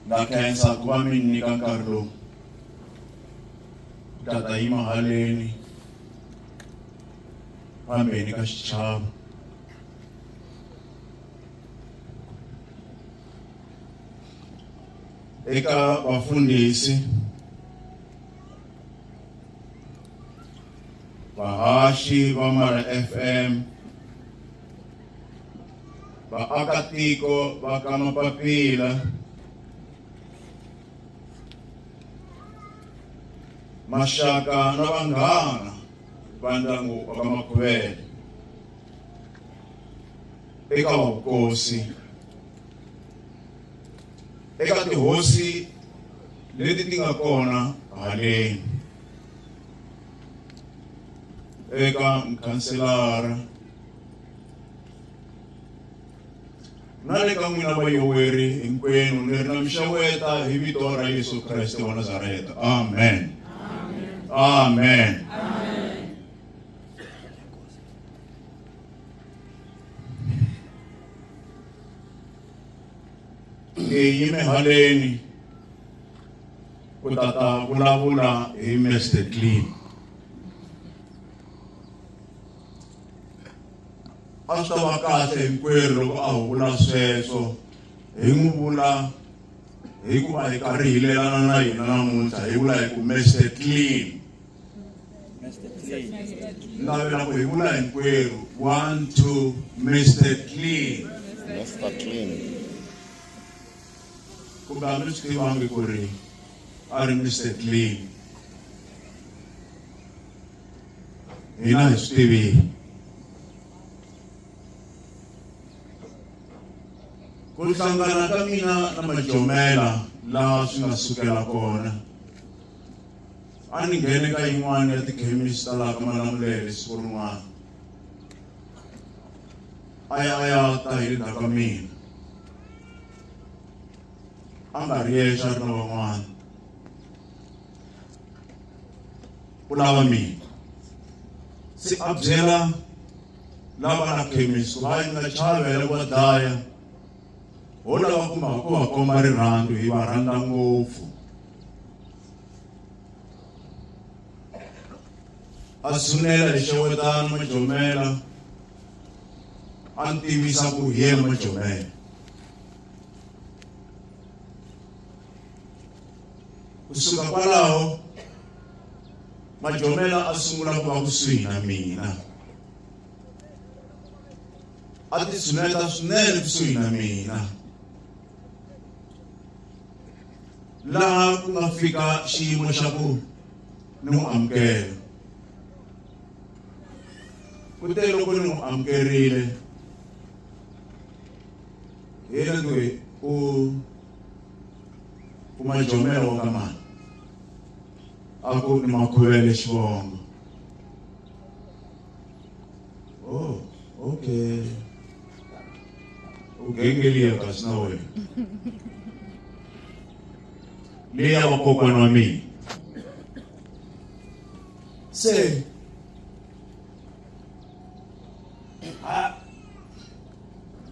ndza khensa ku va mi nyika nkarhi lowu ku ta ta yima haleni fambeni ka xichava eka vafundhisi vahaxi va mara fm vaakatiko va ka Mapapila maxaka na vanghana va ndyangu wa ka Makhuvele eka vavukosi eka tihosi leti ti nga kona haleni eka mukhanselara na le ka n'wina vayoweri hinkwenu ni ri na mixeweta hi vito ra yesu kreste wa nazareta amen amen, amen. ngiyi mihaleni ku ta ta vulavula hi mester clean a swi ta va kahle hinkwerhu loko a huvula sweswo hi n'wi vula hikuva hi karhi hi lelana na yena namuntlha hi vula hi ku mester clean navela ku hi vula hinkwerhu one two mester clean mester clean kumbe a mi swi tivangi ku ri a ri mester clean hina hi swi tivile ku hlangana ka mina na majomela laha swi nga sukela kona a ni nghene ka yin'wana ya tikhemisi ta laha ka malamulele siku rin'wana a ya a ya ta hi le ndzhaku ka mina a nga ri yexe a ri na van'wana u lava mina se a byela lava na khemisi va yi nga chavela va dlaya ho lava ku ma ku va komba rirhandzu hi va rhandza ngopfu a sunela hi xewetana majomela a ni tivisa ku hi yena majomela kusuka kwalaho majomela a sungula ku va kusuhi na mina a ti tshuneta swinene kusuhi na mina laha ku nga fika xiyimo xa ku ni n'wi amukela kute loko ni n'wi amukerile hi yena loyi u ku majomela wa ka mani a ku ni makhuvele xivongo oh okay u gengeliya kasi na wena leyi ya vakokwana wa mina se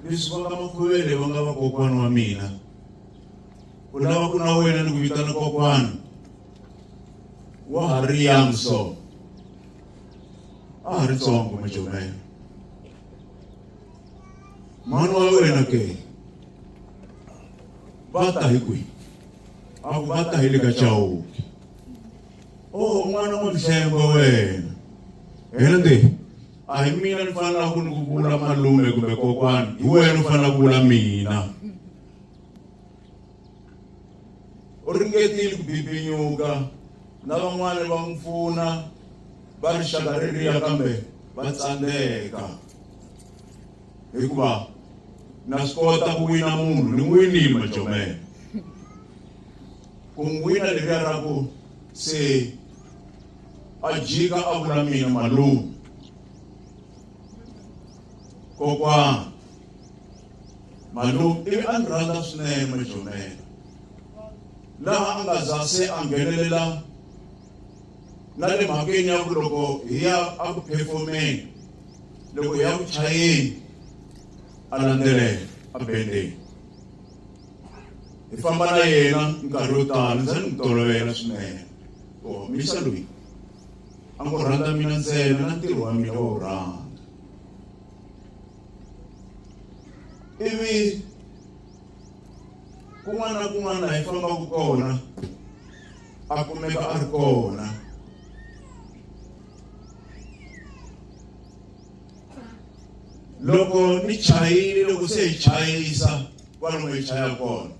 mi swi vona makhuvele va nga vakokwana wa mina ku lava ku na wena ni ku vitana kokwana wa ha ri young so a ha ri tsongo majomela mhani wa wena ke va ta hi kwihi a ku va ta hi le ka chawuki o oh, n'wana wa mihlembo wena hende a hi mina ni fanelaka ku ni ku vula malume kumbe kokwani hi wena u fanela ku vula mina u ringetile ku bibinyuka na van'wana va n'wi pfuna va rixaka ririya kambe va tsandzeka hikuva na swi kota ku wina munhu ni winile majomela ku n'wi wina leriya ra ku se a jika a vula mina malume kokwana malume ivi a ni rhandza swinene majomela laha a nga za se a nghenelela na le mhakeni ya ku loko hi ya a ku phefomeni loko hi ya ku chayeni a landzelela a bendeni hi famba na yena nkarhi wo tala ndza ni n'wi tolovela swinene ku homisa loyi a ngo rhandza mina ntsena na ntirho wa mina wo rhandza ivi kun'wana na kun'wana laha yi fambaka kona a kumeka a ri kona loko ni chayile loko se hi chayisa kwalomu hi chaya kona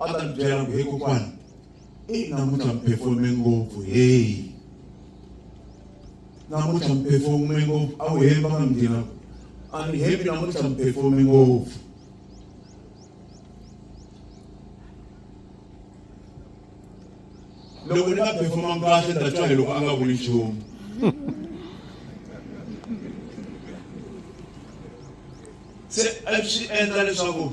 a ta ni byela ku he kokwana eyi namuntlha mi performe ngopfu heyi namuntlha mi performe ngopfu a wu hembi a nga mi nghina a ni hembi namuntlha mi performe ngopfu loko ni nga performanga kahle ni ta twa hi loko a nga vuli nchumu se a swi endla leswaku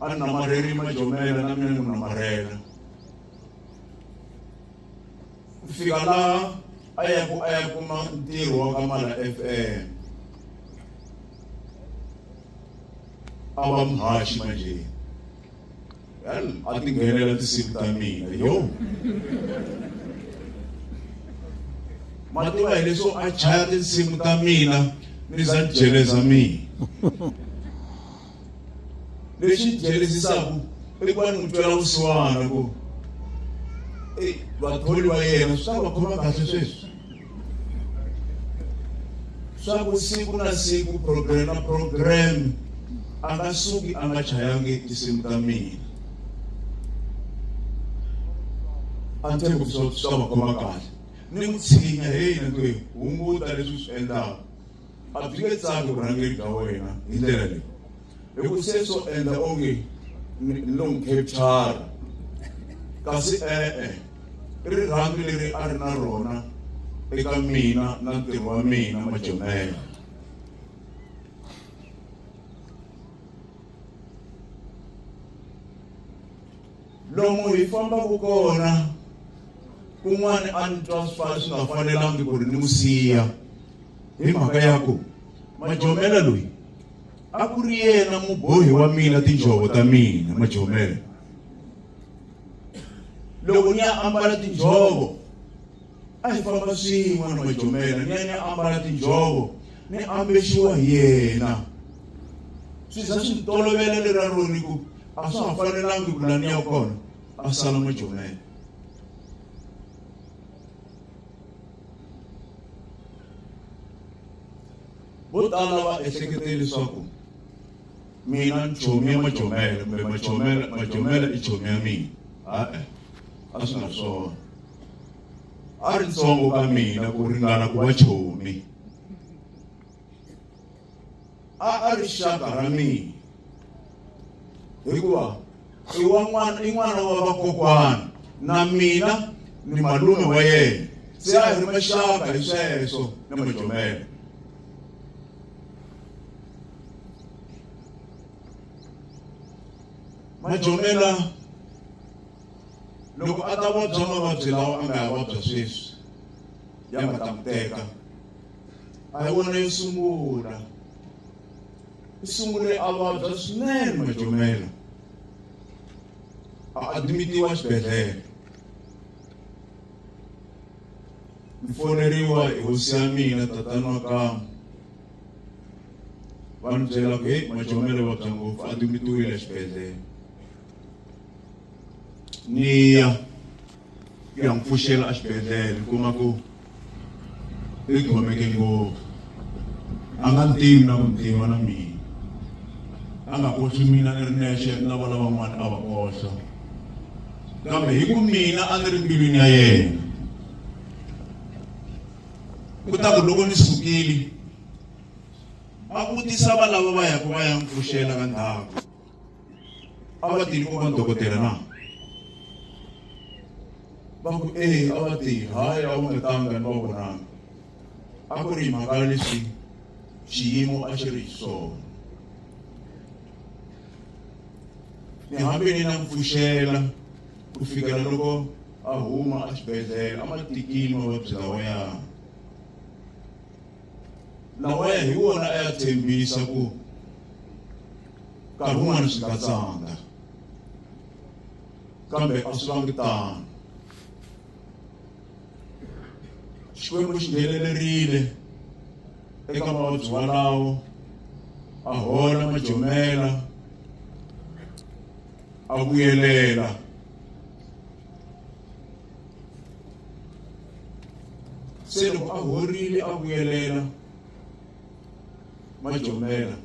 a ni namarheli majomela na mina ni n'wi namarhela ku fika laha a ya ku a ya kuma ntirho wa ka mala f m a va muhaxi manjheni Well, I think we're at the same time in the yo. Mativa leswo a chaya tinsimu ta mina ni za jeleza mina. Lexi jelezisaka i ku va ni n'wi twela vusiwana ku vatholi va yena swi ta va khoma kahle sweswi. swa ku siku na siku program na program a nga suki a nga chayangi tinsimu ta mina a ni tshembi swi ta va khoma kahle ni n'wi tshinya heyi ni ku hunguta leswi swi endlaka a byi nge tsaki vurhangeri bya wena hi ndlela leyi hi ku se swo endla onge ni lo n'wi capture kasi e-e rirhandzu leri a ri na rona eka mina na ntirho wa mina majomela lomu hi fambaka kona kun'wana a ni twa swi fana swi nga fanelangi ku ri ni n'wi siya hi mhaka ya ku majomela loyi a ku ri yena mubohi wa mina tinjhovo ta mina majomela loko ni ya ambala tinjhovo a hi famba swin'we na majomela ni ya ni ambala tinjhovo ni ambexiwa hi yena swi za swi ni tolovela lera roni ku a swa ha fanelangi ku la ni ya kona a sala majomela vo tala va ehlekete leswaku mina ni chomi ya majomele kumbe majomele majomele i chomi ya mina a-e a swi nga swona a ri ntsongo ka mina ku ringana ku va chomi a a ri xaka ra mina hikuva i wa n'wana i n'wana wa vakokwana na mina ni malume wa yena se a hi ri maxaka hi sweswo na majomela majomela loko a ta vabya mavabyi lawa a nga ya vabya sweswi ya nga ta n'wi teka a hi wona yo sungula i sungule a vabya swinene majomela a admitiwa xibedhlele ni foneriwa hi hosi ya mina tatani wa kama va ni byela ku heyi majomela vabya ngopfu admitiwile xibedhlele ni ya ku ya n'wi pfuxela exibedhlele ni kuma ku i khomeke ngopfu a nga ntivi na ku ntiva na mina a nga koxi mina ni ri nexe na va lavan'wana a va koxa kambe hi ku mina a ni ri mbilwini ya yena ku ta ku loko ni sukile a vutisa valava va yaka va ya n'wi pfuxela ka ndhawu a va tini ku va dokotela na va ku e a va ti hayi a wu nga tanga ni va vonanga a ku ri mhaka leswi xiyimo a xi ri hi swona ni hambi ni na mpfuxela ku fikela loko a huma exibedhlele a ma tikini mavabyi lawa ya lawa ya hi wona a ya tshembisa ku nkarhi wun'wana swi nga tsanga kambe a swi vangi tano xikwembu xi nghenelerile eka mavabyi walawo a hola majomela a vuyelela se loko a horile a vuyelela majomela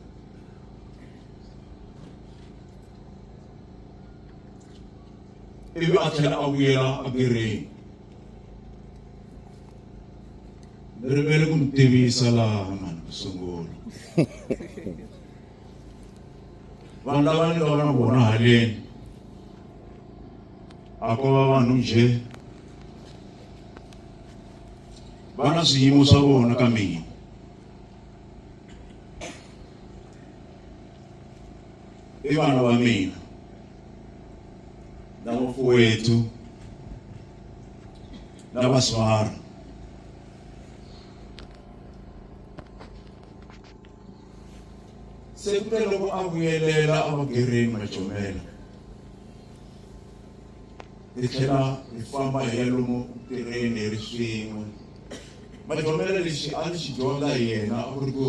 ivi a tlhela a vuyela abireni ni rivele ku mi tivisa laha mani ku sungula vanhu lava ni nga va na vona haleni a ko va vanhu njhe va na swiyimo swa vona ka mina i vana va mina na vafuwethu na vaswara se kute loko a vuyelela emagereni macomela hi tlhela hi famba hi ya lomu tirheni hi ri swin'we macomela lexi a ni xi dyondza hi yena a ku ri ku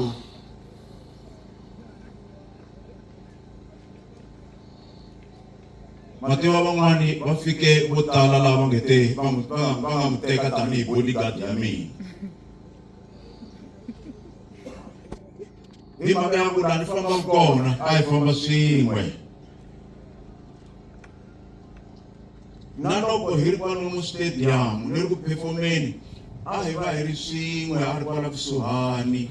mativa van'wani va fike vo tala lava va nge te va nga n'wi teka tanihi bodyguard ya mina hi mhaka ya ku laha ni fambaka kona a hi famba swin'we na loko hi ri kwalomu stadium ni ri ku phefomeni a hi va hi ri swin'we a ri kwala kusuhani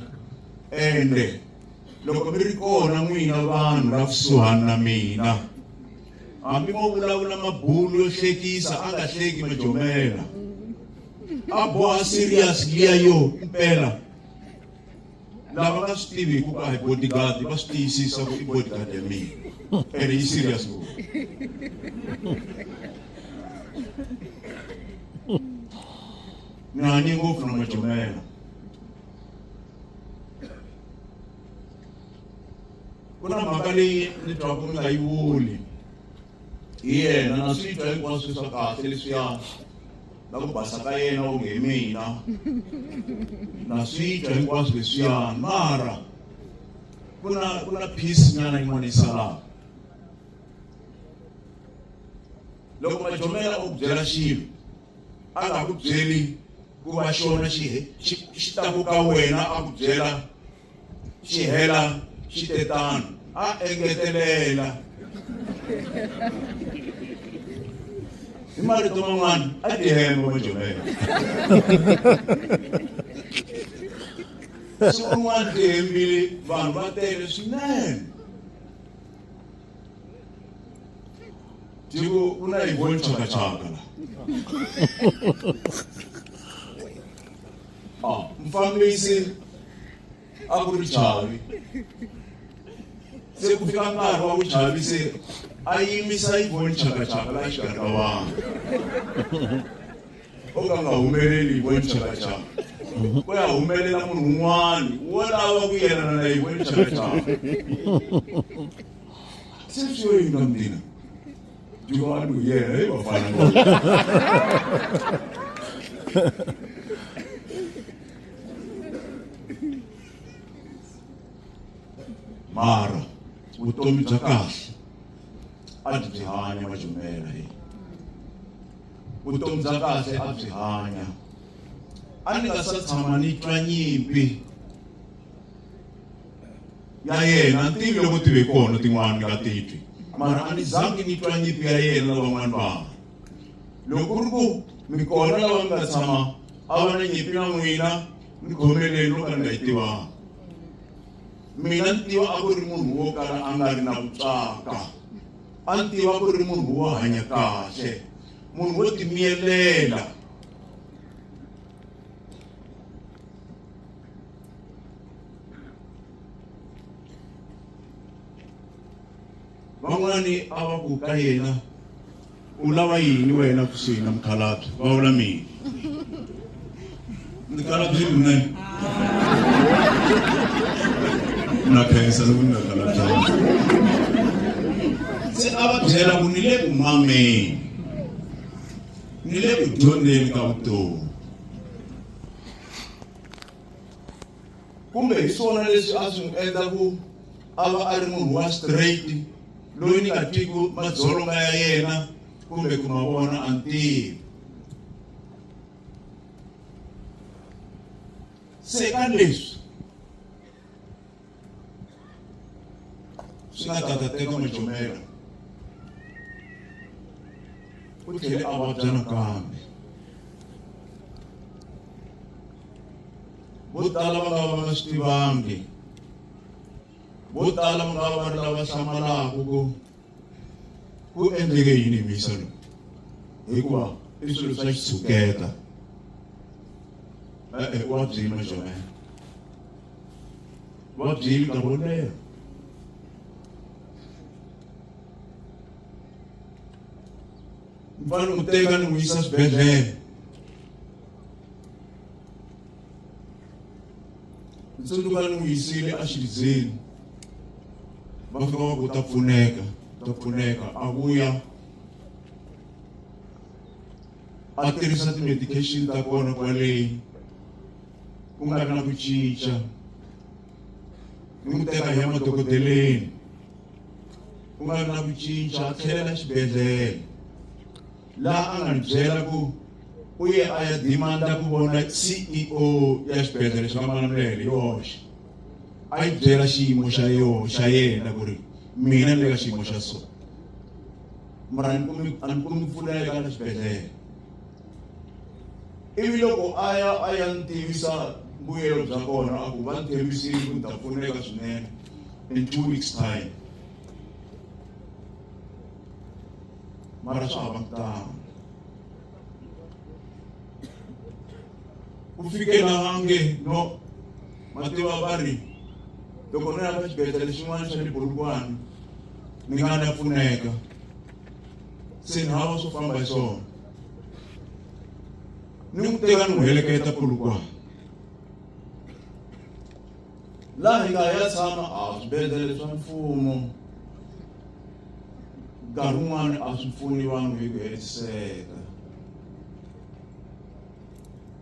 ende loko mi ri kona n'wina vanhu la kusuhani na mina hambi mo vulavula mabulu yo hlekisa a nga hleki majomela a boha serious liya yo impela lava nga swi tivi hikuva hi bodyguard va swi tiyisisa ku i bodyguard ya mina ene yi serious ngopfu nani ngopfu na majomela ku na mhaka leyi ni twaku mi nga yi vuli hi yena na swi twa hinkwaswo swa kahle leswiya na ku basa ka yena onge hi mina na swi twa hinkwaswo leswiyani mara ku na ku na peace nyana yin'wana yi salaka loko majomela u byela xilo a nga ku byeli ku va xona xi xi ta ku ka wena a ku byela xi hela xi te tano a engetelela hi marito man'wana a ti hemba majovela siku rin'wana ti hembile vanhu va tele swinene tiko ku na yivoni chakachaka la Ah, mufambisi a ku ri chavi se ku fika nkarhi wa vuchavi se a yimisa yi voni chakachaka la xikarhi ka vanhu o ka nga humeleli yi voni chakachaka ku ya humelela munhu un'wana wo lava ku yelana na yi voni chakachaka se swi yo yini ka mina Do you want to hear him or find mara vutomi bya kahle a byi byi hanya majumela hi vutomi bya kahle a byi hanya a ni nga sa tshama ni twa nyimpi ya yena ni tivile ku tive kona tin'wana ni nga titwi mara a ni zangi ni twa nyimpi ya yena na van'wana vanhu loko ri ku mi kona lava mi nga tshama a va na nyimpi na n'wina ni khomeleni no ka ni nga yi tivanga mina ni tiva a ku ri munhu wo kala a nga ri na vutswaka a ni tiva ku ri munhu wo hanya kahle munhu wo timiyelela van'wani a va ku ka yena u lava yini wena kusuhi na mukhalabye va vula mina mukhalabye lune na khensa loko ni nga khalabyangi se a va byela ku ni le ku mameni ni le ku dyondzeni ka vutomi kumbe hi swona leswi a swi n'wi endla ku a va a ri munhu wa straight loyi ni nga twiku madzolonga ya yena kumbe ku ma vona a ntivi se ka leswi swi nga ta ta teka majomela u tlhele a vabya nakambe vo tala va nga va nga swi tivangi vo tala va nga va ri lava hlamalaka ku ku endleke yini hi mixo lowu hikuva i swilo swa xitshuketa e-e wa byini majonela wa byini nkarhi wo leha mfana u teka ni n'wi yisa swibedhlele ni tsundzuka ni n'wi yisile exidzeni va fika va ku ta pfuneka ta pfuneka a vuya a tirhisa ti-medication ta kona kwaleyi ku nga ri na ku cinca ni n'wi teka hi ya madokodeleni ku nga ri na ku cinca a tlhelela xibedhlele laha a nga ni byela ku u ye a ya dimanda ku vona ceo ya xibedhlele xa manamulele yoxe a yi byela xiyimo xa yo xa yena ku ri mina ni le ka xiyimo xa so mara a ni kumi ku pfuneka na xibedhlele ivi loko a ya a ya ni tivisa mbuyelo bya kona a ku va ni tshembisile ku ni ta pfuneka swinene in two weeks time mara swa hava kutani ku fikela vange no mativa va ri loko ni lava xibedhlele xin'wana xa le bolukwane ni nga na pfuneka se ni hava swo famba hi swona ni n'wi teka ni n'wi heleketa polukwane laha hi nga ya tshama a swibedhlele swa mfumo nkarhi wun'wana a swi pfuni vanhu hi ku hetiseka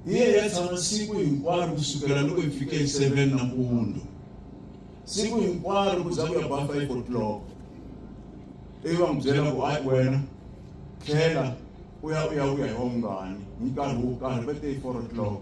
hi ye ya tshama siku hinkwaro ku sukela loko hi fike hi seven nampundzu siku hinkwaro ku za ku ya ba five o'clock ivi va n'wi byela ku ayi wena tlhela u ya u ya u ya hi wa mungani hi nkarhi wo karhi va te hi four o'clock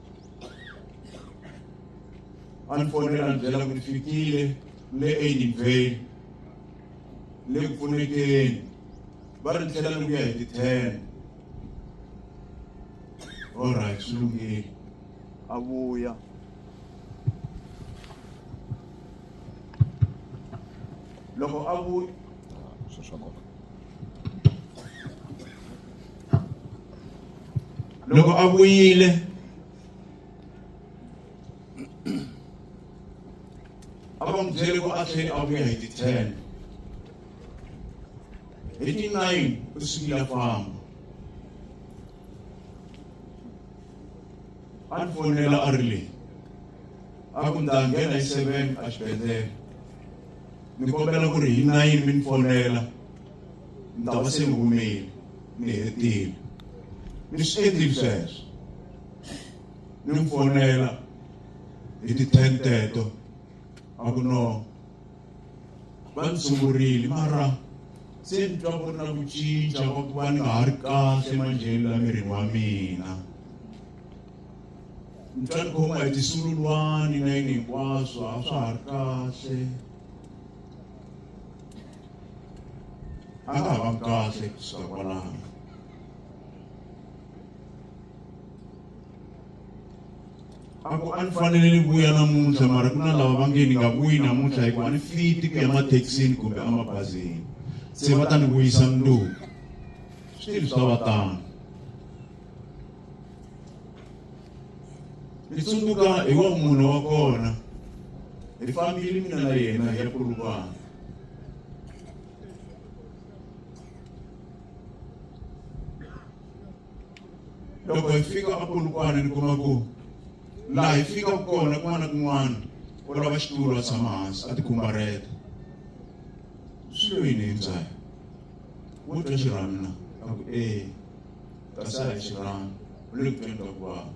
a ni fonela ni byela ku ni fikile le enyimbyeni le ku pfunekeni va ri ni tlhela ni vuya hi ti-ten olright swi lunghile a vuya loko a vuya loko a vuyile a va n'wi byele ku a tlheli a vuya hi ti-ten hi ti-nine u sukile a famba a ni fonela a ri leyi a ku ni ta nghena hi seven a xibedhlele ni kombela ku ri hi nayini mi ni fonela ni ta va se ni humile ni hetile ni swi endlile sweswo ni n'wi fonela hi ti-ten teto a ku no va ni sungurile mara se ni twa ku ri na ku cinca va ku va ni nga ha ri kahle manjheni la mirini wa mina ni twa ni khoma hi tisululwani na yini hinkwaswo a swa ha ri kahle a nga ha va kahle kusuka kwalano a ku a ni fanele ni vuya namuntlha mara ku na lava va nge ni nga vuyi namuntlha hikuva ni fiti ku ya mathekisini kumbe emabazini se va ta ni vuyisa mundzuku swilo swa va tano ni tsundzuka hi wa munhu wa kona hi fambile mina na yena ya kulukwana loko hi fika a kulukwana ni kuma ku laha hi fikaka kona kun'wana na kun'wana u lava xitulu a tshama hansi a tikhumbareta swi lo yini hi ndzayo wo twa xirhamina a ku ee That's how it should run. Luke 20 of God.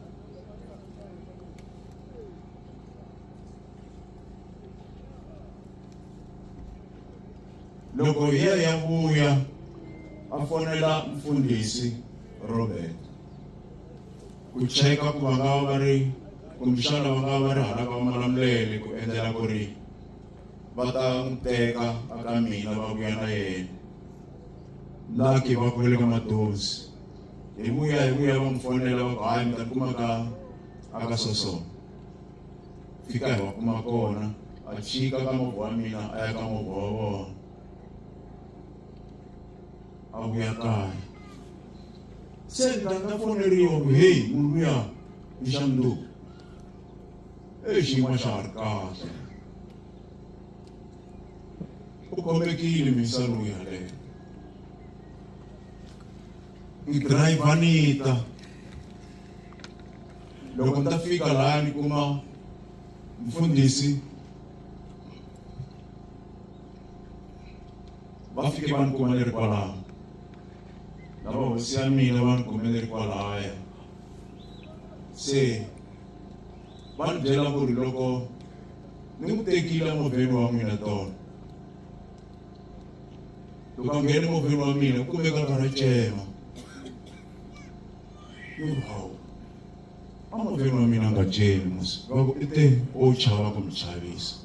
loko hi ya ya vuya a fonela mfundhisi robert ku cheka ku va nga va va ri kumbexana va nga va va ri hala va malamulele ku endlela ku ri va ta n'wi teka a ka mina va vuya na yena laki va khulele ka madozi hi vuya hi vuya va n'wi fonela va ku hayi mi ta kuma ka a ka sosona fika hi va kuma kona a chika ka movha wa mina a ya ka movha wa vona a vuya kaya se ni ta ni ta foneriwa ku heyi munhu luya i xa mundzuku e xiyimo xa ha ri kahle u kombekile misa lowu yaleyo ni dirayivha ni ta loko ni ta fika laha ni kuma mfundhisi va fike va ni kuma ni ri kwalaho lava hosi ya mina va ni kume ni ri kwalaya se va ni byela ku ri loko ni n'wi tekile movheni wa n'wina tona loko a nghene movheni wa mina ku kumeka a karhi a cema hawu a movheni wa mina a nga cemi musi va ku i te o chava ku mi chavisa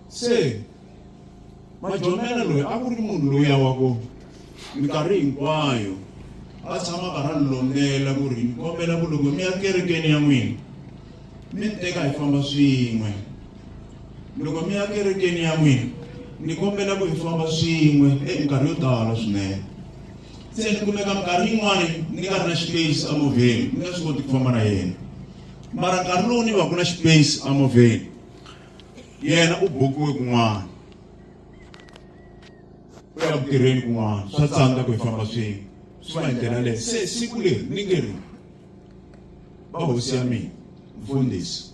se majomela loyi a ku ri munhu loya wa ku minkarhi hinkwayo va tshama va ra lombela ku ri ni kombela ku loko mi ya kerekeni ya n'wina mi ni teka hi famba swin'we loko mi ya kerekeni ya n'wina ni kombela ku hi famba swin'we e minkarhi yo tala swinene se ni kumeka minkarhi yin'wani ni nga ri na space emovheni ni nga swi koti ku famba na yena mara nkarhi lowu ni va ku na space emovheni yena u bokiwe kun'wana u ya ku tirheni kun'wana swa tsandza ku hi famba swin'we swi va hi ndlela leyo se siku leri ni nge ri va hosi ya mina mfundhisi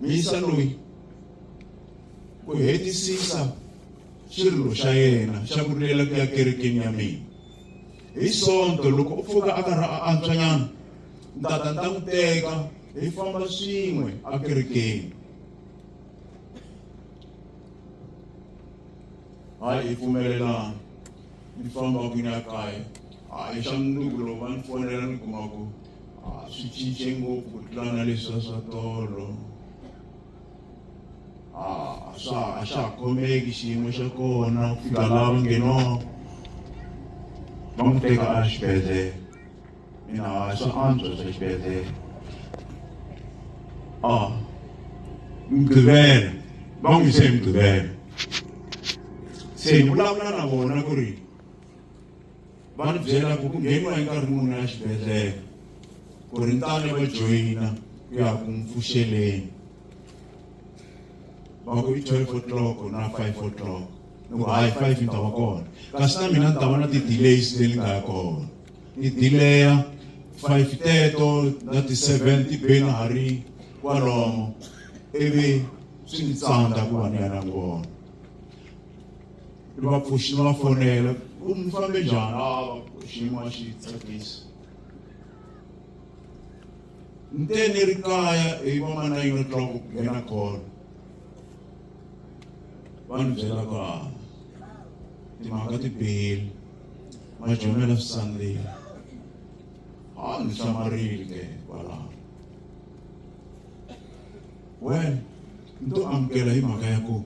mi yisa loyi ku hetisisa xirilo xa yena xa ku rilela ku ya kerekeni ya mina hi sonto loko u pfuka a karhi a antswanyana ni ta ta ni ta n'wi teka hi famba swin'we ekerekeni hayi hi pfumelelana ni famba ku ni ya kaya hayi xa mundzuku lowu va ni fonela ni kuma ku swi cince ngopfu ku tlula na leswiya swa tolo swa a xa ha khomeki xiyimo xa kona ku fika laha va ngheniwaka va n'wi teka a xibedhlele mina a swi antswa swa xibedhlele a mugqivela va n'wi yise emugqivela se hi vulavula na vona ku ri va ni byela ku ku ngheniwa hi nkarhi muni ya xibedhlele ku ri ntane va joyina ku ya ku mpfuxeleni va ku i twelve o'clock na five o'clock loko hayi five ni ta va kona kasi na mina ni ta va na ti-delays leti nga ya kona ni dileya five teto na ti-seven ti be na ha ri kwalomo ivi swi ni tsandza ku va ni ya na kona ni va pfuxi ni va fonela ku mi fambe njhani ava xiyimo a xi tsakisi ni te ni ri kaya hi va ma nine o'clock ku nghena kona va ni byela ku a timhaka ti bihile majomela swi tsandzile a ndzi hlamarile ke kwalaho wena ni to amukela hi mhaka ya ku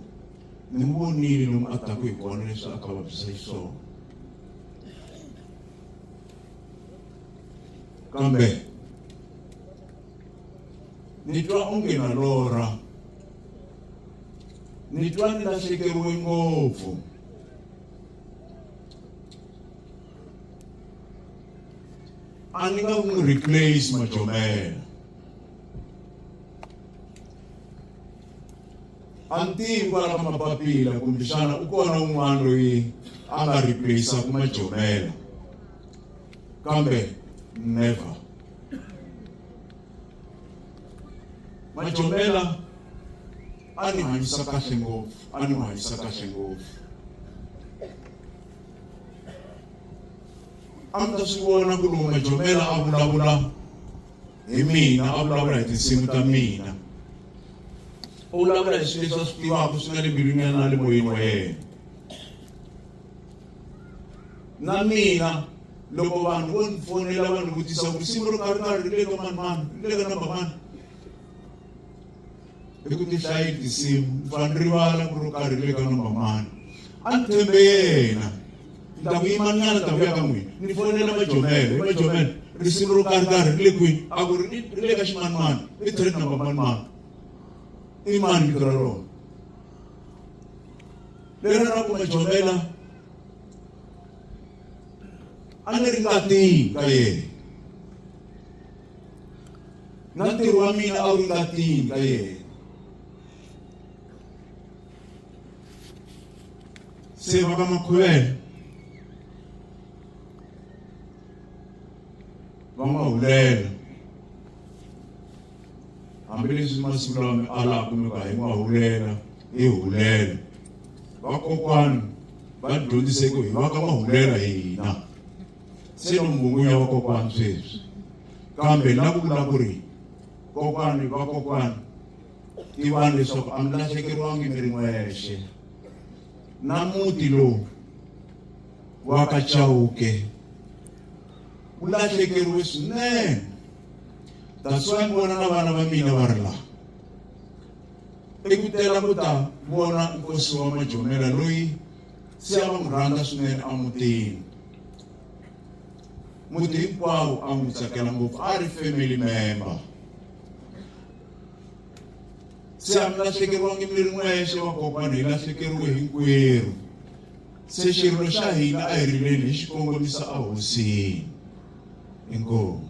ni n'wi vonile lomu a taku hi kona leswi a ka vabyisa hi swona kambe ni twa onge na lorha ni twa ni lahlekeriwe ngopfu a ni nga n'wi replace majomela a ni tivi kwala ka mapapila kumbexana u kona un'wana loyi a nga replaceaku majomela kambe never majomela a ni hanyisa kahle ngopfu a ni hanyisa kahle ngopfu a mi ta swi vona ku ri majomela a vulavula hi mina a vulavula hi tinsimu ta mina u vulavula hi swilo leswi a swi tivaka swi nga le mbilwini ya na le moyeni wa yena na mina loko vanhu vo ni fonela va ni vutisa ku risimu ro karhi karhi ri le ka mani mani ri le ka namba mani i ku ti hlayeli tinsimu ni fane ni rivala ku ri karhi ri le ka number mani a ni tshembe yena ni ta ku yimanyana ta vuya ka n'wina ni fonela majomele i majomele risimu ro karhi karhi ri le kwini a ku ri ri le ka ximanimani i thread number manimani i mani vito ra rona leri ra ku majomela a ni ri ngatini ka yena na ntirho wa mina a wu ri ngatini ka yena se va ka makhuvela va nga hulela hambileswi masiku lama mi alaka mi va hi nga hulela hi hulela vakokwani va dyondziseke hi va ka va hulela hina se no mungunya wa kokwani sweswi kambe la ku vula ku ri kokwani vakokwani tivani leswaku a mi lahlekeriwangi mi ri n'wexe na muti lowu wa ka chawuke wu lahlekeriwe swinene taswa ni vona na vana va mina va ri laha i ku tela ku ta vona nkosi wa majomela loyi se a va n'wi rhandza swinene emutini muti hinkwawo a n'wi tsakela ngopfu a ri family member se a mi lahlekeriwangi mi ri n'wexe vakokwana hi lahlekeriwe hinkwerhu se xirilo xa hina a hi rileni hi xi kongomisa ehosini inkomu